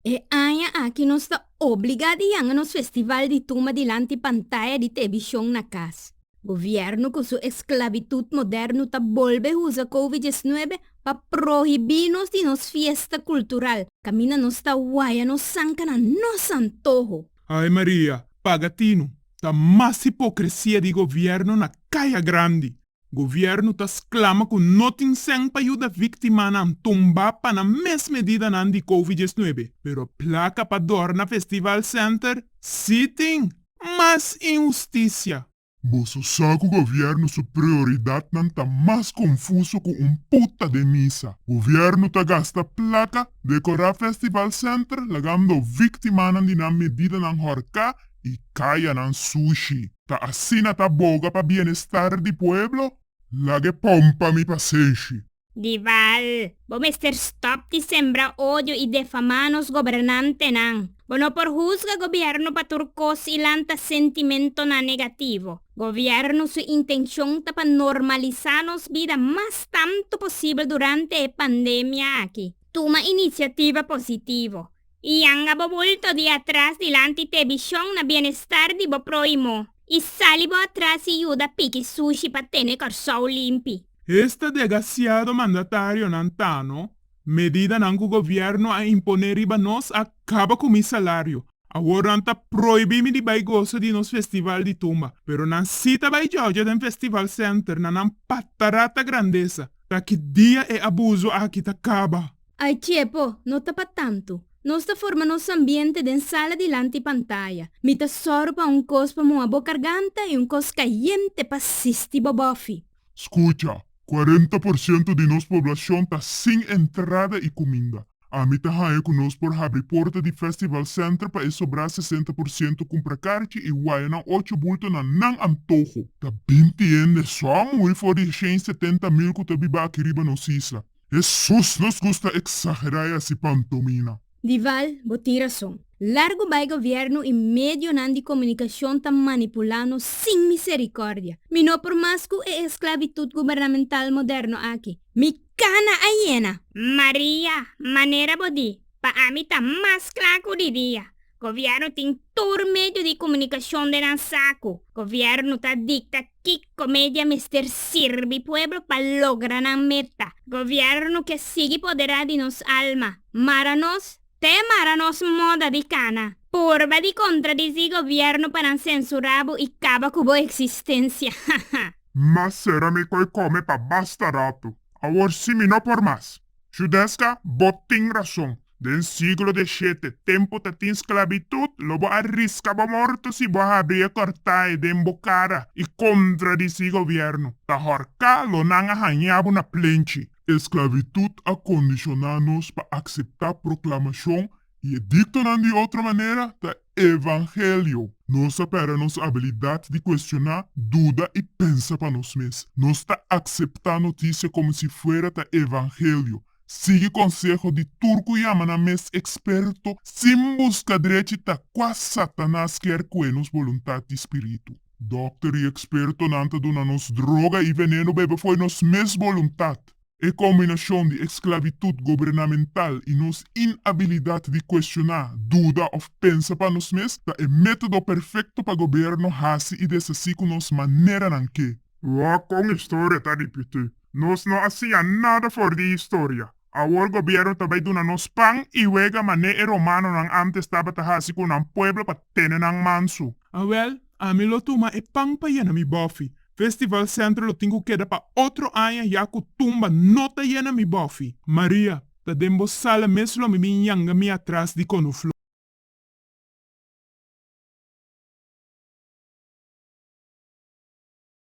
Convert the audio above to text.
E aña aki nos ta obligá di yanga nos festival di tuma dilanti pantaya di tebishon na kas. Gobièrnu ku su esklavitut modèrnu ta bolbe usa kovi diesnuebe pa prohibí nos di nos fiesta kultural, kaminda nos ta waya nos sanka na nos antoho. Ai Maria, paga tinu! Ta mas hipokresia di gobièrnu na Kaya Grandi! Gobierno ta sclama cu no tin cen pa yuda victimanan tumba pa nan mes medidanan di covid diecinuebe, pero placa pa dorna Festival Center si tin! Mas inhusticia! Boso sa cu Gobierno su prioridadnan ta mas confuso cu un puta den misa. Gobierno ta gasta placa, decora Festival Center lagando victimanan di nan medidanan horca y cayanan sushi. Ta asina ta boga pa bienestar di pueblo? Laga e pon pa mi pa senshi. Dival, bo mester stop di sembra odio y defama nos gobernantenan. Bo no por huzga gobierno pa tur cos y lanta sentimentonan negativo. Gobierno su intencion ta pa normalisa nos bida mas tanto posibel durante e pandemia aki. Tuma iniciativa positivo. I yanga bo bulto di atras dilanti t'e bishon na bienestar di bo proimo, i sali bo atras i yuda piki sushi pa tene Kòrsou limpi. Esta degasiado mandatarionan tano, Medidanan ku gobièrnu a imponé riba nos a kaba ku mi salario. Awor nan ta proibí mi di bai gosa di nos festival di tumba. Pero nan sí ta bai jòja den festival senter na nan patarata grandesa. T'aki dia e abuso aki ta kaba. Ai tiepo no ta pa tantu. Nos ta forma nos ambiente den sala dilanti pantaya. Mi ta sòru pa un kos pa muha bo karganta i un kos kayente pa sisti bo bòfi. Skucha, kuarenta por sientu di nos poblashon ta sin entrada i kuminda. Ami ta haña ku nos por habri porta di Festival Center pa e sobrá sesenta por sientu kumpra karchi i waya nan ocho bulto na nan antoho. Ta binti hende sòm hui for di e shen setenta mil ku ta biba aki riba nos isla. Hesus nos gusta exagerá e haci pantomina. Dival, bo tin rason. Largo bai gobierno y medionan di comunicacion ta manipula nos sin misericordia. Mi no por mas cu e esclavitud gubernamental moderno aki. Mi cana a yena! Maria, manera bo di, pa ami ta mas cla cu di dia. Gobierno tin tur medio di comunicacion den nan saco. Gobierno ta dicta Kiko media mester sirbi pueblo pa logra nan meta? Gobierno ke sigui poderá di nos alma, mara nos te mara nos moda di kana. Purba di contradici gobierno pa nan censurá bo i caba cu bo existencia. Haha. Mas sera mi koe kome pa basta rato. Awor si mi no por mas. Su deska, Bo tin rason. Den siglo deshete, tempu ta tin sklabitut, lo bo a riska bo morto si bo a habri e kòrtai den bo kara i kontradisí gobièrnu. Ta hòrká lo nan a hañá bo na plenchi. Sklabitut a kondishoná nos pa akseptá proklamashon I ediktonan di otro manera ta evangelio. Nos a pèrdè nos abilidat di kuestioná, duda i pensa pa nos mes. Nos ta akseptá notisia komo si fuera ta evangelio, sigui konseho di tur ku yama nan mes eksperto sin buska drechi ta kua Satanas kier kue nos boluntat di spiritu. Dòkter i ekspertonan ta duna nos droga i veneno bebe fo'i nos mes boluntat. E kombinashon di esklavitut gobernamental i nos inabilidat di kuestioná, duda òf pensa pa nos mes ta e método perfekto pa goberno hasi i desasí ku nos maneranan ke. Wòò kon historia ta ripití! Nos no a siña nada for di historia. Awor gobièrnu ta bai duna nos pan i wega manera e romanonan ántes tabata hasi ku nan pueblo pa tene nan mansu. Awèl, ami lo tuma e pan pa yena mi bòfi, Festival Centro lo tin ku keda pa otro aña ya ku tumba no ta yena mi bofi. Maria, Ta den bo sala mes lo mi bin yanga mi atras di konofló.